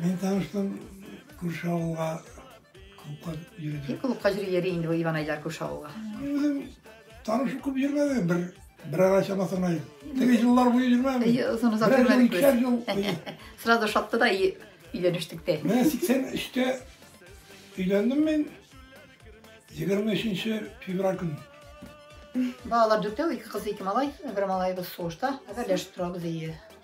Мин таныштым күрше авылга клубка йөрдем. Клубка җире йөри инде бу Иван Айдар күрше авылга. Үзем танышы күп йөрмәде, бер бер ара чамасы гына. Теге җыллар буе йөрмәде. Озын озак йөрмәдек. Бер икешәр ел. Сразу шатты да өйләнештек тә. Менә 83-тә өйләндем мин. 23 февраль көнне. Балалар дүртәү, ике кыз, ике малай. Бер малаебыз сугышта. Әзерләшеп торабыз, әйе.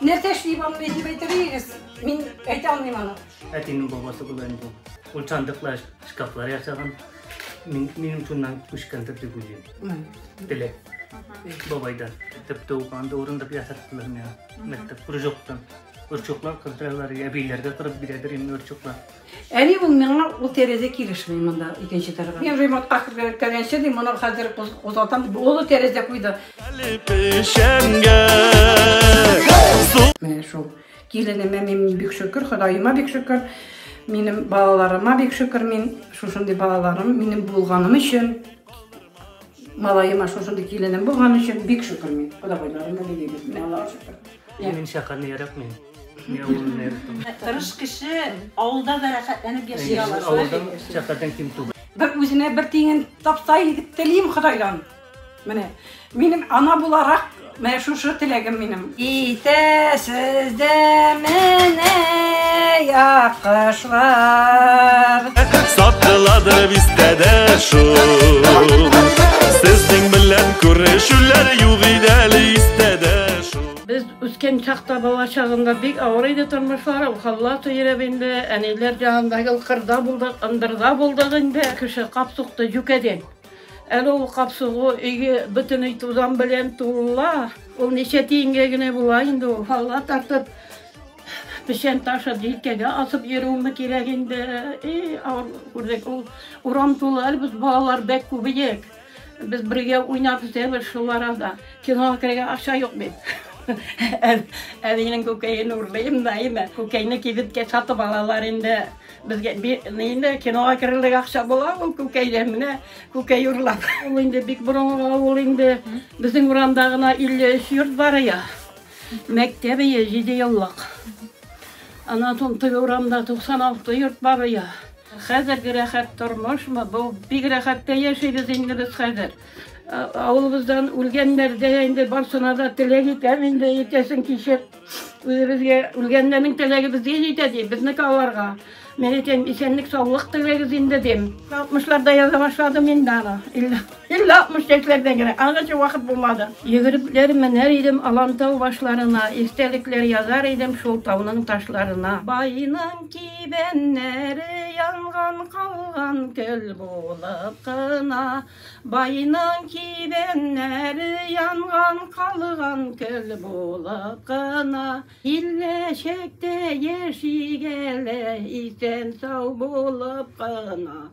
Нәрсә эшлим аны әйтеп әйтегез. Мин әйтә алмыйм аны. Әтинең бабасы була инде ул. Ул сандыклар, шкафлар ясаган. Мин минем шуннан күчкәндер дип уйлыйм. Теләк. Бабайдан. Теп туганда урындык ясаттылар миңа. Мәктәп кружоктан. Өрчуклар кырдыралар, әбиләргә кырып бирәдер инде өрчуклар. Әни ул миңа, ул тәрәзә килешми монда икенче тарга. Мин ремонтка кергәнче ди, моны хәзер кузгатам дип, олы тәрәзә куйды. Менә шул. Киленемә мин бик шөкер, Ходаема бик шөкер. Минем балаларыма бик шөкер мин. Шушындый балаларым минем булганым өчен. Малаема шушындый киленем булган өчен бик шөкер мин. Кодагайларыма бик шөкер. Мин шәһәрне яратмыйм. Тырыш кеше авылда да рәхәтләнеп яши ала. Авылда шәфкатен ким түгел. Бер үзенә бер тиңен тапса иде телим Худайдан. Менә минем ана буларак менә шушы теләгем минем. Итәсез дә менә якышлар. Сатыладыр бистәдә шул. Сезнең белән күрешүләр юк иде әле. Без үскән чакта, бала чагында бик авыр иде тормышлар, ул халлата йөреп инде, әниләр янында гел кырда булдык, ындырда булдык инде. Кеше кап сукты, юкәде. Әле ул кап сугу өйгә бөтен өй тузан белән тула. Ул ничә тиенгә генә була инде ул. Халла тартып, печән ташып, җилкәгә асып йөрүме кирәк инде. И, авыр күрдек ул. Урам тулы әле без балалар бәк күбеек. Без бергә уйнап үтәбез шул арада. Кинога керергә акча юк бит. Әбинең күкәен урлыйм да, әйме. Күкәйне кибеткә сатып алалар инде. Безгә инде кинога керерлек акча була ул күкәйдә менә күкәй урлап. Ул инде бик борынгы авыл инде. Безнең урамда гына 53 йорт бар я. Мәктәп ие 7 еллык. Аннан соң теге урамда 96 йорт бар я. Хәзерге рәхәт тормышмы бу? Бик рәхәт тә яшибез инде без хәзер. Авылыбыздан үлгәннәр дә инде барсына да теләк итәм инде иртәсен кичеп. Үзебезгә үлгәннәрнең теләге безгә җитә ди, безнеке аларга. Мин әйтәм, исәнлек-саулык теләгез инде дим. 60-ларда яза башладым инде аны. Илле алтмыш яшьләрдә генә, аңарча вакыт булмады. Йөгерекләр менәр идем Алантау башларына, Истәлекләр язар идем Шул тауның ташларына. Байның кибәннәре янган, калган Көл булып кына. Байның кибәннәре янган, калган Көл булып кына. Илле чәктә яши гәле, Исән-сау булып кына.